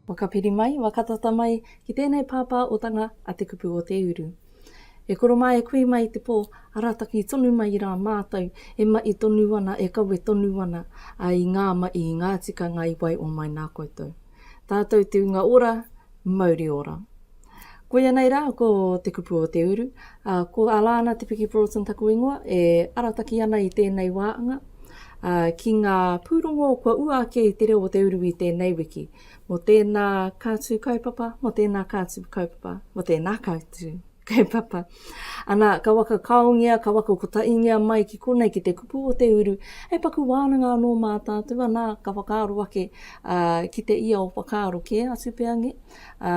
Waka piri mai, waka tata mai, ki tēnei pāpā otanga a Te Kupu o Te Uru. E koro mā e kui mai te pō, arataki tonu mai rā mātou, e maʻi tonu ana, e kawe tonu ana, ā, i ngā maʻi, i ngā tikanga i wae o mai nā koutou. Tātou te unga ora, mauri ora. Koia nei rā ko Te Kupu o Te Uru, ā, ko Alana Te Piki Broughton taku ingoa, e arataki ana i tēnei wāanga, ā, ki ngā pūrongo kua ua ake i te reo o Te Uru i tēnei wiki, mō tēnā kātū kaupapa, mō tēnā kātū kaupapa, mō tēnā kātū. Kei papa. Ana, ka waka kaongia, ka waka kotaingia mai ki konei, ki te kupu o te uru, hei paku wānanga anō mā tātou, anā, ka whakaaro ake, ā, ki te ia o whakaaro kē atu pea nge, ā,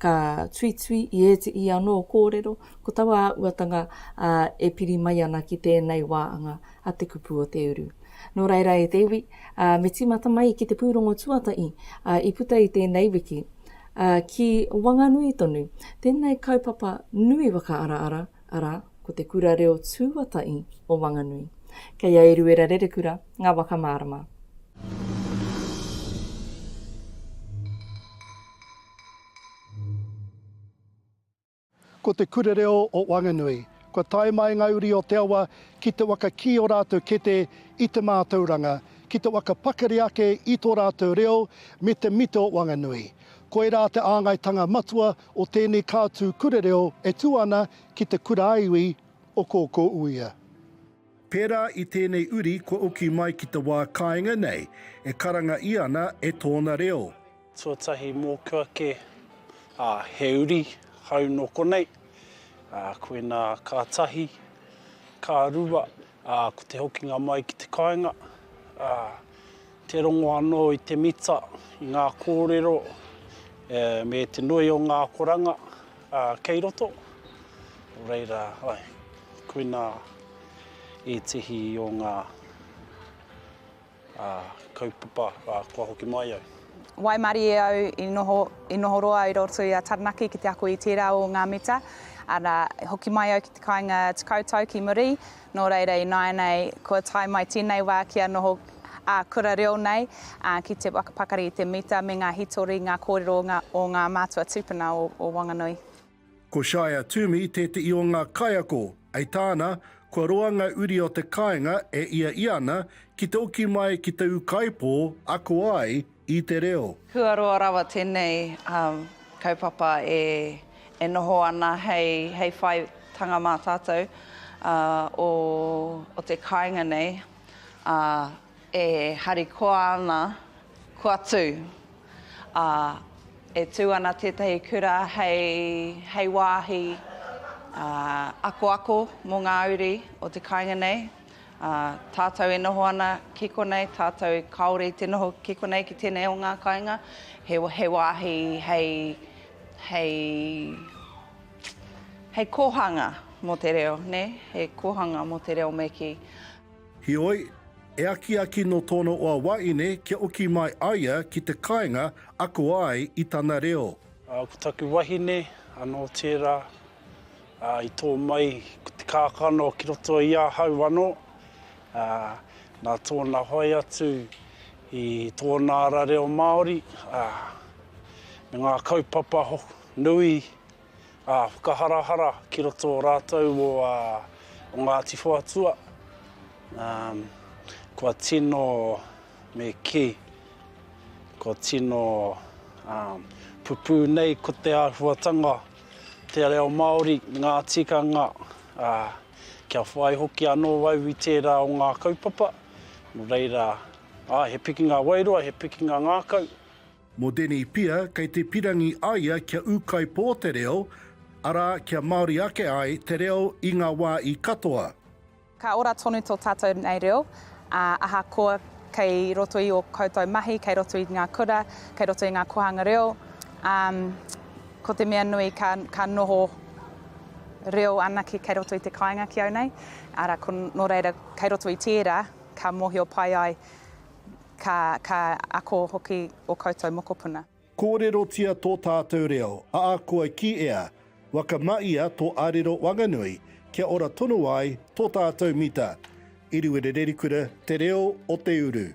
ka tuitui i ētehi anō kōrero, ko taua āhuatanga, ā, e piri mai ana ki tēnei wā anga. a te kupu o te uru. Nō reira e te iwi, ā, me tīmata mai ki te pūrongo tuatahi, ā, i puta i tēnei wiki, ā, ki Wanganui tonu, tēnei kaupapa nui whakaaraara, arā, ko te Kura Reo Tūatahi o Wanganui. Kei a Eruera Rerekura ngā waka mārama. Ko te Kura Reo o Wanganui, kua tae mai ngā uri o te awa ki te waka kī ō rātou kete i te mātauranga, ki te waka pakari ake i tō rātou reo me te mita o Wanganui. Koirā te āngaitanga matua o tēnei kātū kura reo e tū ana ki te kura-a-iwi o Kōkōuia. Pērā i tēnei uri kua uki mai ki te wā kāinga nei e karanga i ana e tōna reo. Tuatahi mōku ake, ā, he uri hau nō konei, ā, koinā ka tahi, ka rua, ā, ko te hokinga mai ki te kāinga, ā, Te rongo anō i te mita, i ngā kōrero me te nui o ngā akoranga kei roto. Nō reira, koinā ētehi o ngā kaupapa kua hoki mai au. Waimarie au i noho, i noho roa au i roto i a Taranaki ki te ako i tērā o ngā mita, arā, hoki mai au ki te kāinga 10 tau ki Maree, Nō reira ināianei kua tae mai tēnei wā kia noho ā kura reo nei ki te whakapakari i te mita me ngā hitori, ngā kōrero o ngā mātua tūpuna o Wanganui. Ko Shire Toomey tētehi o ngā kaiako, hei tāna, kua roa ngā uri o te kāinga e ia ia ana ki te oki mai ki te ūkaipō ako ai I te reo. Huaroa rawa tenei kaupapa e noho ana hei whaitanga ma tatou o te kainga nei, a e harikoa ana kua tu. A e tu ana tetahi kura hei wahi akoako mo nga uri o te kainga nei. Ā, tātou e noho ana ki konei, tātou kāore i te noho ki konei ki tēnei o ngā kāinga, he, he wāhi hei, hei, hei kōhanga mō te reo, nē, he kōhanga mō te reo me kī. Heoi, e akiaki nō tōna hoa wahine kia oki mai aia ki te kāinga ako ai i tana reo. Ā, ko taku wahine anō tērā. Ā, i tō mai ko te kākano ki roto i ahau anō, ā, nā tōna hoe atu i tōna ara reo Māori, ā, me ngā kaupapa nui, ā, whakaharahara ki roto o rātou o, ā, o Ngāti Whoatua, ā, kua tino me kī, kua tino, ā, pupū nei ko te āhuatanga Te reo Māori, ngā tikanga, ā, kia whai hoki anō au i tērā o ngā kaupapa, nō reira, āe, he pikinga wairua, he pikinga ngākau. Mō Denny Pia, kei te pirangi a ia kia ūkaipō te reo, arā, kia Māori ake ai te reo i ngā wā i katoa. Ka ora tonu tō tātou nei reo, ā, ahakoa kei roto i ō koutou mahi, kei roto i ngā kura, kei roto i ngā kōhanga reo, ā, ko te mea nui ka, ka noho reo anake kei roto i te kāinga ki au nei, arā, ko, nō reira, kei roto i tērā, ka mōhio pai ai, ka, ka ako hoki ō koutou mokopuna. Kōrerotia tō tātou reo, aa kua ki ea, waka ma ia tō arero wanganui kia ora tonu ai tō tātou mita. Iriwere Rerikura, Te Reo o te Uru.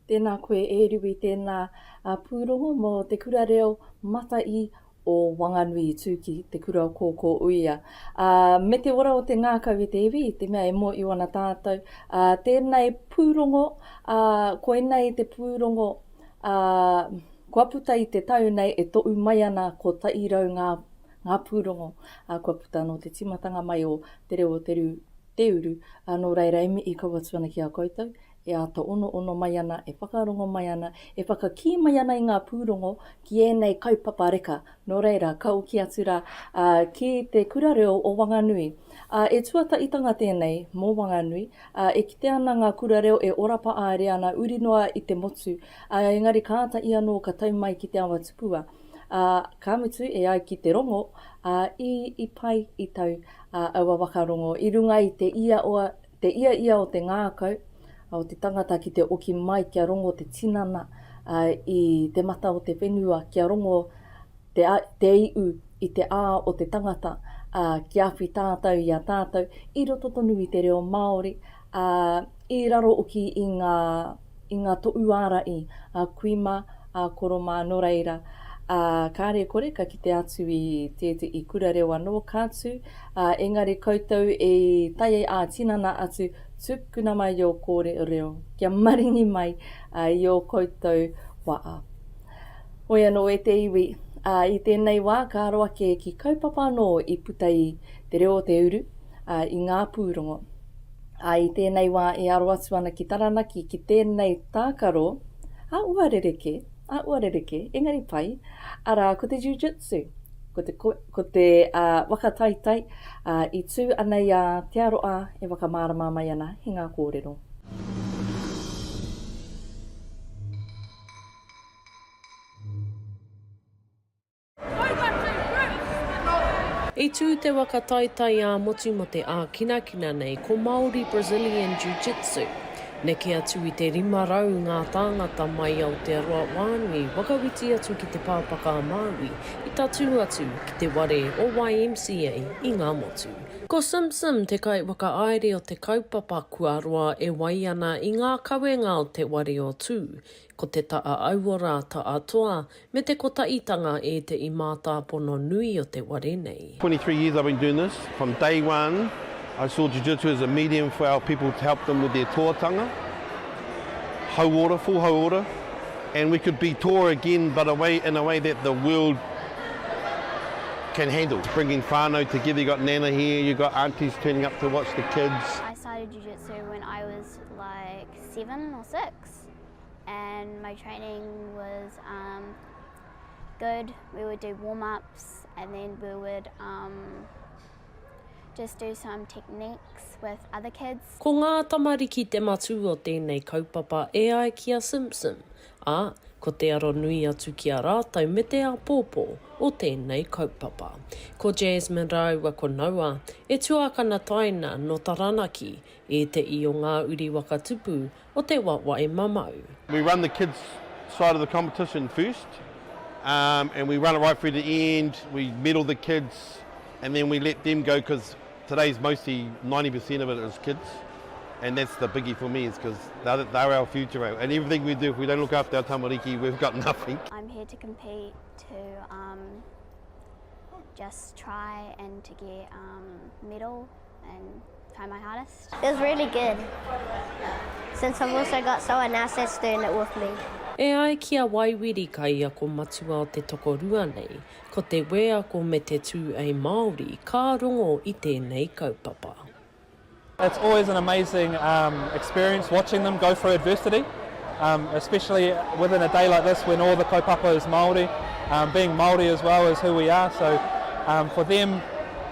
Tēnā koe e Riwi tēnā pūrongo mō te kura reo Mataī o Wanganui i tū ki te kura o Kōkō Uia ā me te ora o te ngākau i te iwi i te mea e mōio ana tātou ā tēnei pūrongo ā koinei te pūrongo ā kua puta i te tau nei e toʻu mai ana ko taʻi rau ngā ngā pūrongo ā kua puta nō te tīmatanga mai o Te Reo o Te Rū Te Uru ā nō reira e mihi kau atu ana ki a koutou e āta onoono mai ana, e whakarongo mai ana, e whakakī mai ana i ngā pūrongo ki ēnei kaupapa reka, nō reira, ka oki atu rā ki te Kura Reo o Wanganui. Ā, e tuatahitanga tēnei mō Wanganui, ā, e kite ana ngā kura reo e ora paaere ana uri noa i te motu, ā, engari ka āta i anō ka tau mai ki te awa tupua, ā, ka mutu e ai ki te rongo, ā, i, i pai, i tau, ā, aua wakarongo i runga i te ia o. Te ia ia o te ngākau, o te tangata ki te oki mai kia rongo te tinana i te mata o te whenua, kia rongo te iu i te ā o te tangata kia awhi tātau i a tātau i roto tonu i te reo Māori, ā, i raro oki i ngā. i ngā toʻu āraʻi, a kui mā, a koro mā, nō reira, ā, kāre kore ka kite atu i tēteʻi kura reo anō ka tū, ā, engari koutou i tae ai ā-tinana atu, tukuna mai ō kōrereo kia maringi mai i ō koutou waʻa. Hoi anō e te iwi, ā, i tēnei wā ka aro ake ki kaupapa anō i puta i Te Reo o te Uru, ā, i ngā pūrongo. Ā, i tēnei wā e aro atu ana ki Taranaki ki tēnei tākaro, ā, ua rerekē, ā, ua rerekē, engari pai, arā, ko te jiu-jitsu, ko te, ko te ā, whakataitai, ā, i tū ana i a Te Aroa e whakamārama mai ana he ngā kōrero. I tū te waka taitai ā-motu mō te ākinakina nei ko Māori Brazilian Jiu Jitsu. Neke atu i te 500 ngā tāngata mai Aotearoa wānui whakawhiti atu ki te Pāpaka a Māui i tatū atu ki te ware o YMCA i ngā motu. Ko Sim Sim te kaiwhakaāere o te kaupapa kua roa e wai ana i ngā kawenga o te ware o Tū Ko te ta a aua ra ta a toa me te kotaitanga e te i mātāpono nui o te ware nei. 23 years I've been doing this, from day one I saw jiu-jitsu as a medium for our people to help them with their toatanga, hauora, full hauora, and we could be toa again but a way, in a way that the world can handle, bringing whanau together, you got nana here, you got aunties turning up to watch the kids. I started jiu-jitsu when I was like seven or six. States and my training was um, good. We would do warm ups and then we would um, just do some techniques with other kids. Ko ngā tamariki te matū o tēnei kaupapa e ai ki a Simpson, ā, ko te aro nui atu ki a rātou me te āpōpō o tēnei kaupapa. Ko Jasmine rāua ko Noa, e tuākana taina nō Taranaki, ēteʻi o ngā uri waka tupu o te wawae mamau. We run the kids side of the competition first umm and we run it right through to the end, we medal the kids and then we let them go cos today's mostly ninety per cent of it is kids and that's the biggie for me is cos they're our future and everything we do if we don't look after our tamariki we've got nothing. I'm here to compete to umm just try and to get umm medal. and try my hardest. It was really good, since I've also got someone else that's doing it with me. E ai ki a Waiwiri kaiako matua o te tokorua nei, ko te wēako me te tū ei Māori ka rongo i tēnei kaupapa. It's always an amazing um, experience watching them go through adversity, um, especially within a day like this when all the kaupapa is Māori, um, being Māori as well is who we are, so um, for them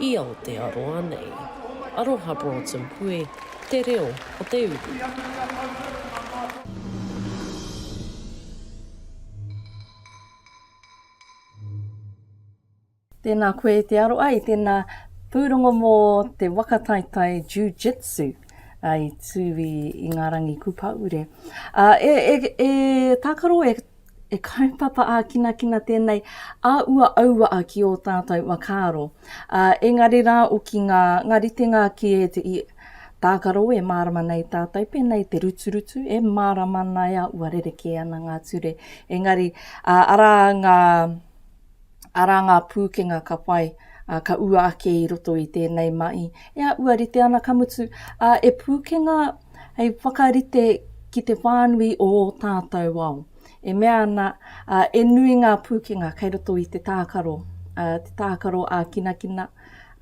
i Aotearoa nei. Aroha Broughton Pue, Te Reo o te Uru. Tēnā koe i te aro ai, tēnā pūrongo mō te waka taetae Jiu-Jitsu i Tūwī i ngā rangi Kūpaure. E tākaro e E kaupapa ā-kinakina tēnei a ua auaa ki ō tātau whakaaro. Ā, engari rā oki ngā, ngā ritenga ki ētehi tākaro e mārama nei tātau, pēnā i te ruturutu, e mārama ana e a ua rerekē ana ngā ture. Engari, ā, arā ngā. Arā ngā pūkenga ka whai, ā, ka ua ake i roto i tēnei mahi. E āʻua rite ana, ka mutu, ā, e pūkenga hei whakarite ki te whānui o ō tātou ao. E mea ana, ā, e nui ngā pūkenga kei roto i te tākaro, ā, te tākaro ākinakina,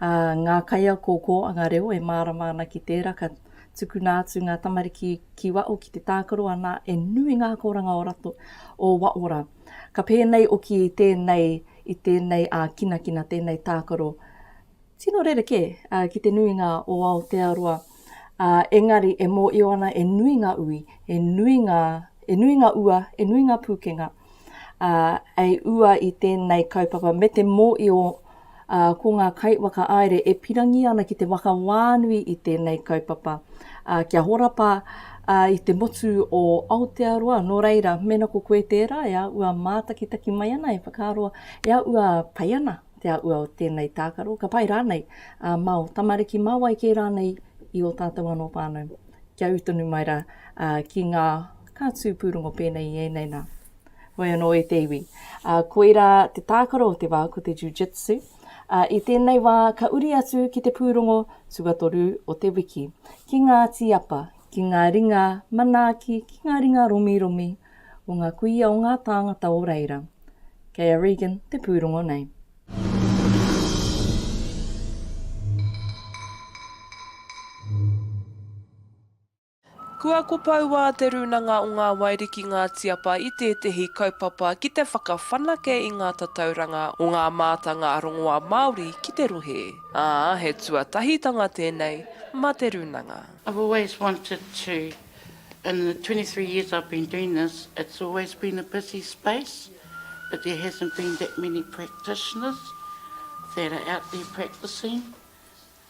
ā, ngā kaiako o kōanga reo e mārama ana ki tērā, ka tukuna atu ngā tamariki ki waho ki te tākaro, anā, e nui ngā akoranga o rato, o waora. Ka pēnei oki i tēnei, i tēnei ākinakina, tēnei tākaro tino rerekē ki te nuinga o Aotearoa, ā, engari e mōio ana e nui ngā ui, e nui ngā, e nui ngā ua, e nui ngā pūkenga, ā, hei ua i tēnei kaupapa me te mōio o ā, ko ngā kaiwhakaāere e pirangi ana ki te whakawānui i tēnei kaupapa, ā, kia horapa, ā, i te motu o Aotearoa, nō reira, mēnā ko koe tērā e āua mātakitaki mai ana, e whakaaro, e āua pai ana te āua o tēnei tākaro, ka pai rānei ā māo tamariki, mā wai kē rānei i ō tātou anō whānau. Kia ū tonu mai rā, ā, ki ngā kātū pūrongo pēnei i ēnei nā. Hoi anō e te iwi, ā, koirā te tākaro o te wā ko te jiu-jitsu, ā, i tēnei wā ka uri atu ki te pūrongo tuatoru o te wiki, ki ngā tīapa, ki ngā ringa manaaki, ki ngā ringa romiromi o ngā kuia o ngā tāngata o reira. Kei a Regan te pūrongo nei. Kua kopoua Te Rūnanga o Ngā Wairiki Ngā Tiapa i tētehi kaupapa ki te whakawhanake i ngā tatauranga o ngā mātanga rongoā Māori ki te rohe, ā, he tuatahitanga tēnei mā Te Rūnanga. I've always wanted to, in the twenty three years I've been doing this, it's always been a busy space but there hasn't been that many practitioners that are out there practising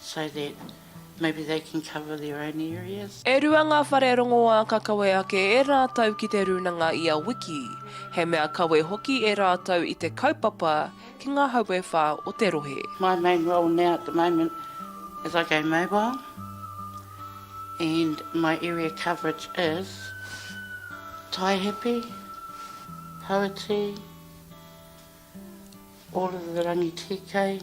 so that maybe they can cover their own areas. E rua ngā whare rongoā ka kawe ake e rātou ki te rūnanga i a wiki. He mea kawe hoki e rātou i te kaupapa ki ngā hauewha o te rohe. My main role now at the moment is I go mobile and my area coverage is Taihipi, Hauiti, all of the Rangitīkei,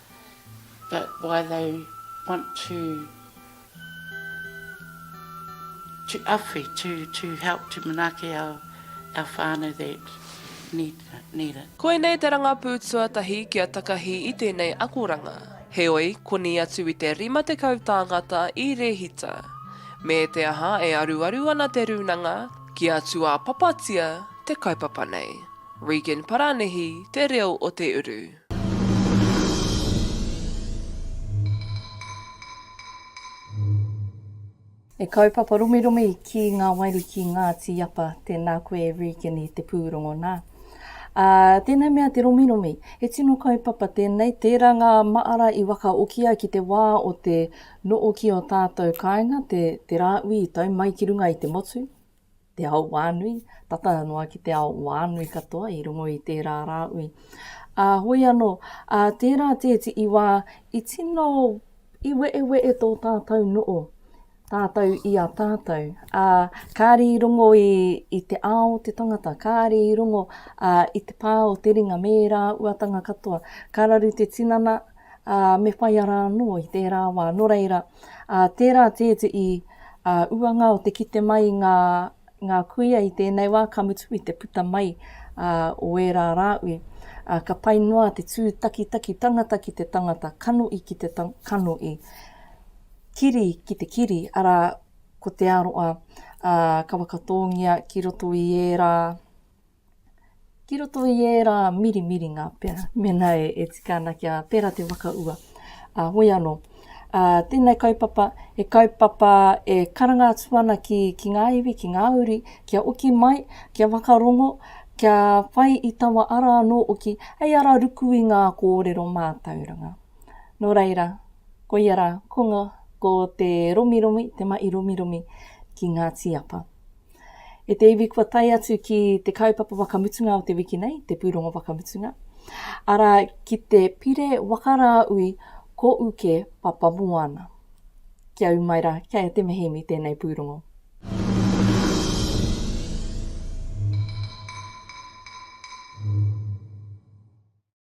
that why they want to to awhi, to to help to manaaki our our whānau that need need it. Koinei te rangapū tuatahi kia takahi i tēnei akoranga. Heoi, koni atu i te 50 tāngata i rēhita. Me te aha e aruaru ana te rūnanga, kia tuapapatia te kaupapa nei. Regan Parānihi, Te Reo o Te Uru. E kaupapa romiromi ki ngā wairi ki ngā tīapa, tēnā koe Regan i te pūrongo nā. Ā, tēnei mea te romiromi, he tino kaupapa tēnei, tērā ngā māra i wakaokia ki te wā o te nōki o tātou kāinga, te, te rāui i tau mai ki runga i te motu, te ao wānui, tata noa ki te ao wānui katoa i rongo i tērā rāui. Ā, hoi anō, ā, tērā tēti i wā, i tino, i weewe'e tō tātou no'o, tātou i a tātou. Ā, kāri i rongo i, i te ao te tangata, kāri i rongo ā, i te pā o te ringa me rā uatanga katoa. Ka raru te tinana, ā, me whai ara anō i tērā wā. Nō reira, ā, tērā tētehi, ā, uanga o te kite mai i ngā, ngā kuia i tēnei wā, ka mutu i te puta mai, ā, o ērā rāui. Ā, ka pai noa te tūtakitaki tangata ki te tangata, kanohi ki te kanohi, kiri ki te kiri, arā, ko te aroa, ā, ka whakatōngia ki roto i ērā. ki roto i ērā mirimiringa pea, mēnā e, e tika ana kia pērā te whakaua. Ā, hoi anō, ā, tēnei kaupapa, he kaupapa e karanga atu ana ki, ki ngā iwi, ki ngā uri, kia oki mai, kia whakarongo, kia whai i taua ara anō oki, hei ara ruku i ngā kōrero mātauranga. Nō reira, koia rā, ko, ko te romiromi, te mahi romiromi ki ngā tīapa. E te iwi kua tae atu ki te kaupapa whakamutunga o te wiki nei, te pūrongo whakamutunga, arā, ki te Pire Waka Rāui Ko Uke Papamoana. Kia ū mai rā, kei a Te Mehemi tēnei pūrongo.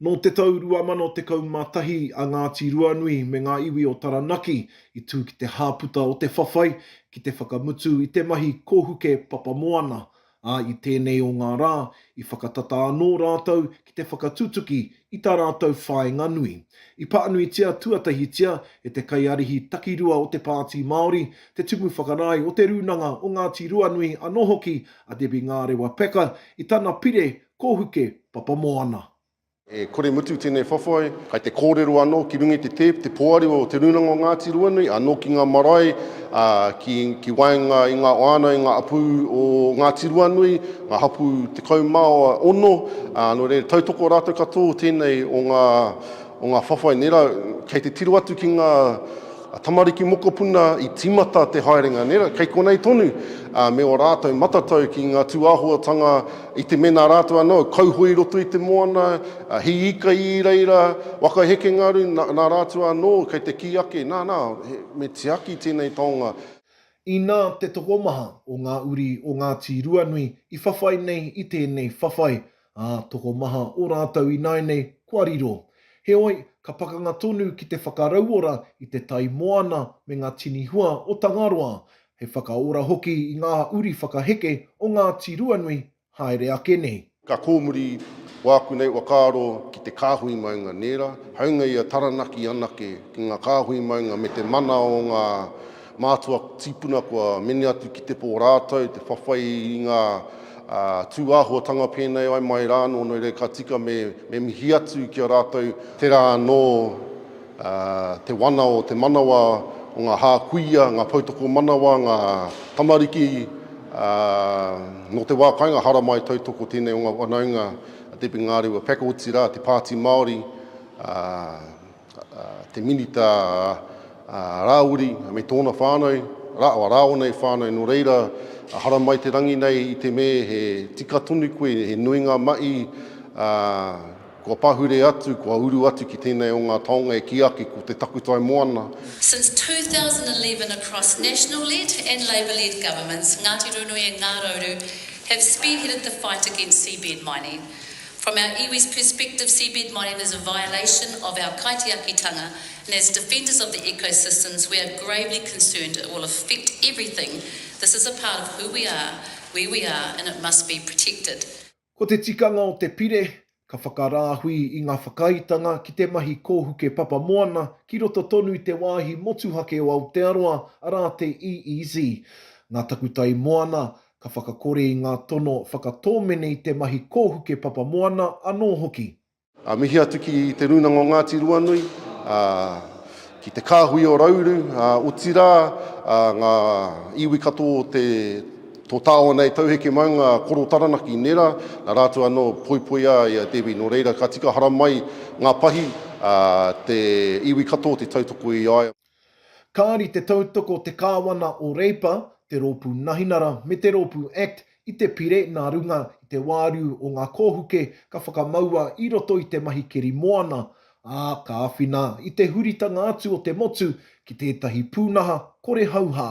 Nō te tau 2011 a Ngāti Ruanui me ngā iwi o Taranaki i tū ki te hāputa o te whawhai ki te whakamutu i te mahi kōhuke papamoana, ā, i tēnei o ngā rā, i whakatata anō rātou ki te whakatutuki i tā rātou whāinga nui. I pānuitia tuatahitia e te kaiārihi takirua o te Pāti Māori, te Tumu Whakarae o Te Rūnanga o Ngāti Ruanui anō hoki a Debbie Ngārewa Packer i tana pire Kōhuke, Papamoana. E kore mutu tēnei whawhai. Kai te kōrero anō ki runga i te tēp te poari o Te Rūnanga o Ngāti Ruanui anō ki ngā marae ki waenga i ngā whānau, i ngā hapū o Ngāti Ruanui, ngā hapū tekau mā ono, nō reira tautoko rātou ka tō tēnei o ngā whawhai nei rā. Kei te tiro atu ki ngā tamariki mokopuna i tīmata te haerenga nei rā, kei konei tonu me ō rātou matatau ki ngā tūāhuatanga I te mena rātou anō, kauhoe i roto i te moana, he ika i reira, waka heke ngā rū, nā rātou anō kei te kī ake, nā, nā, me tiaki tēnei taonga. Inā te tokomaha o ngā uri o Ngāti Ruanui i whawhai nei i tēnei whawhai, ā, tokomaha o rātou ināinei kua riro. Heoi, ka pakanga tonu ki te whakarauora i te tai moana me ngā tini hua o Tangaroa, He whakaora hoki i ngā uri whakaheke o Ngāti Ruanui haere ake nei. Ka kōmuri wāku nei whakaaro ki te kāhui maunga nērā, hāunga ia Taranaki anake, ki ngā kāhui maunga me te mana o ngā mātua tīpuna kua mene atu ki te pō rātou, te whawhai i ngā tūāhuatanga pēnei ai mai rānō, nō reira ka tika me mihi atu ki a rātou. Tērā anō te wana o te manawa, o ngā hā kuia, ngā poutoko manawa, ngā tamariki, ā, nō te wā kāinga haramai tautoko tēnei o ngā whanaunga a Debbie Ngarewa Packotī rā, te Pāti Māori, ā, te Minita Rāwiri me tōna whānau, rā, o rāua nei whānau, nō reira, haramai te rangi nei i te me he tika tonu koe, he nui ngā mahi, ā, Kua pahure atu, kua uru atu ki tēnei o ngā taonga e kī ake ko te takutai moana. Since 2011 across National led and Labour led governments Ngāti Runui and Ngā Rauru have spearheaded the fight against seabed mining. From our iwi's perspective seabed mining is a violation of our kaitiakitanga and as defenders of the ecosystems we are gravely concerned it will affect everything, this is a part of who we are, where we are and it must be protected. Ko te tikanga o te pire, ka whakarāhui i ngā whakaaetanga ki te mahi kōhuke papa moana ki roto tonu i te wāhi motuhake o Aotearoa, arā te EEZ. Ngā takutai moana, ka whakakore i ngā tono whakatōmene i te mahi kōhuke papa moana anō hoki. Ā, mihi atu ki Te Rūnanga o Ngāti Ruanui, ā, ki te kāhui o Rauru, ā, otirā, ā, ngā iwi katoa o te, tō tāona e tauheke mai, ngā koro Taranaki, nērā, nā rātou anō poipoia i a Debbie, nō reira, ka tika haramai ngā pahi, ā, te iwi katoa te tautoko i a ia. Kāri te tautoko te Kāwana o Reipa, te Rōpū Nahinara me te Rōpū Act i te pire nā runga i te wāriu o ngā kōhuke ka whakamaua i roto i te mahi keri moana, ā, ka āwhina i te huritanga atu o te motu ki tētahi pūnaha kore hauhā.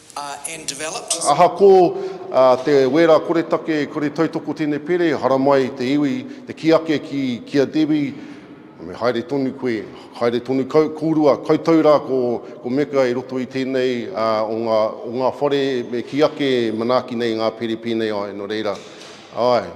and developed. Ahakoa te wera koretake, kore tautoko tēnei pere, haramai te iwi, te kī ake ki, ki a Debbie, me haere tonu koe, haere tonu kau, kōrua, koutou rā ko, ko Meka i roto i tēnei o ngā, o ngā whare e kī ake e manaaki nei ngā pere pēnei ai, nō reira, āe.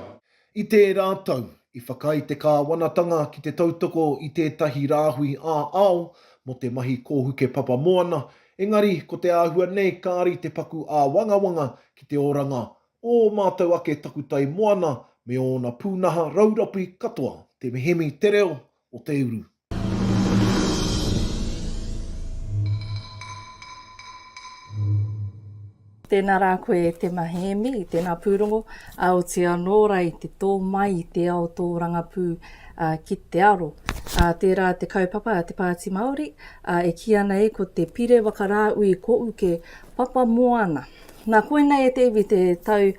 I tērā tau, i whakaae te Kāwanatanga ki te tautoko i tētahi rāhui ā-ao mō te mahi kōhuke papa moana, engari ko te āhua nei kāri te paku āwangawanga ki te oranga o ō mātou ake takutai moana me ōna pūnaha raurapi katoa. Te mihemi te reo, o te uru. Tēnā rā koe e Tema Hēmi, tēnā pūrongo. Aoti anō ra i te tō mai i te ao tōrangapū ki te aro. Tērā te kaupapa a Te Pāti Māori, e kī ana e ko te Pire Wakarāui Kouke Papa Moana. Nā koinei e te iwi te tau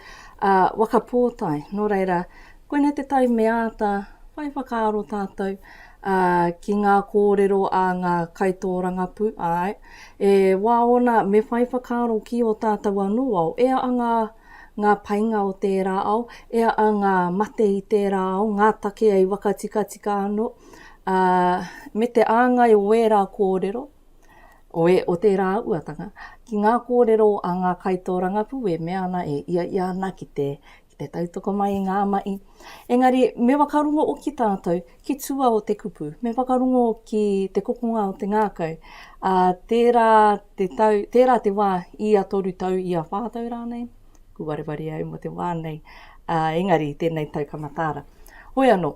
waka pōtae, nō reira Koinei te tai me āta whai whakaaro tātou ki ngā kōrero a ngā kaitōrangapū, āe, e wā ōna me whai whakaaro ki ō tātou anō ao, e a ngā ngā painga o tērā ao, e a ngā mate i tērā ao, ngā take i wakatikatika anō, ā, me te āngai o ērā kōrero, o, e, o tērā auatanga, ki ngā kōrero a ngā kaitōrangapū e mea ana, e ia ia ana ki te, ki te tautoko mai i ngā mahi. Engari, me whakarongo hoki tātou ki tua o te kupu, me whakarongo ki te kokonga o te ngākau, ā, tērā te tau, tērā te wā, ia toru tau, ia whā tau rānei, kua wareware au mō te wā nei, ā, engari, tēnei tau ka mataara. Hoi anō,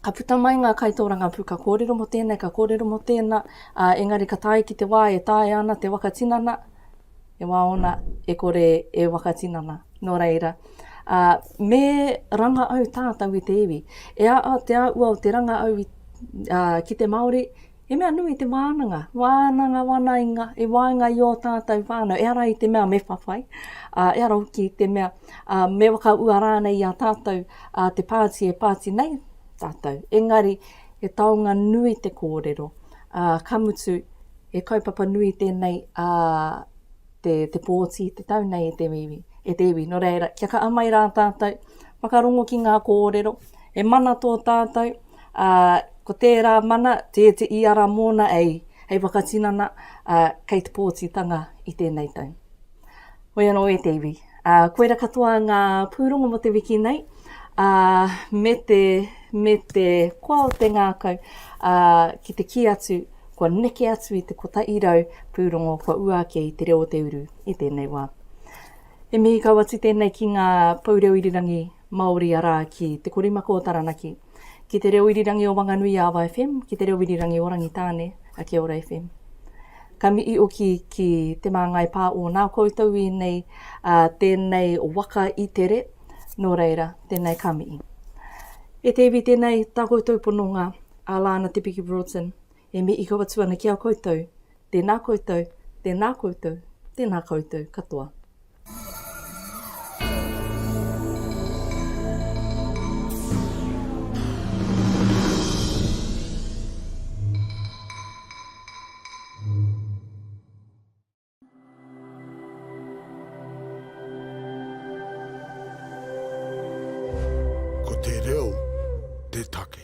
ka puta mai ngā kaitōrangapū, ka kōrero mō tēnei, ka kōrero mō tēnā, ā, engari ka tae ki te wā e taea ana te waka tinana, e wāona, e kore e wakatinana. Nō reira, ā, me ranga au tātou i te iwi. E āa te āua o te ranga au i, ā, ki te Māori, he mea nui te wānanga, wānanga wanainga i waenga i ō tātou whānau, ehara i te mea me whawhai, ā, ehara hoki i te mea, ā, me whakaua rānei i a tātou, ā, te pāti e pāti nei tātou. Engari, he taonga nui te kōrero, ā, ka mutu, He kaupapa nui tēnei a te, te pōti i te tau nei e te iwi, e te iwi. Nō reira, kia kaha mai rā tātou, whakarongo ki ngā kōrero, he mana tō tātou, ā, ko tērā mana, te, te i ara mōna ei, hei whakatinana, ā, kei te pōtitanga i tēnei tau. Hoi anō e te iwi, ā, koira katoa ngā pūrongo mō te wiki nei, ā, me te, me te koa o te ngākau, ā, ki te kī atu, kua neke atu i te kotahi rau pūrongo kua ua ake i te reo o te uru i tēnei wā. He mihi kau atu tēnei ki ngā pou reo irirangi Māori arā, ki Te Korimako o Taranaki, Ki te reo irirangi o Wanganui i Awa FM, ki te reo irirangi o Rangitāne a Kia Ora FM. Ka mihi oki ki Te Māngai Pā o nā koutou i nei a tēnei waka i tere, nō reira, tēnei ka mihi. E te iwi tēnei tā koutou pononga a Lana Te Piki Broughton E mihi kau atu ana ki a koutou. Tēnā koutou, tēnā koutou, tēnā koutou katoa. Ko te reo te take.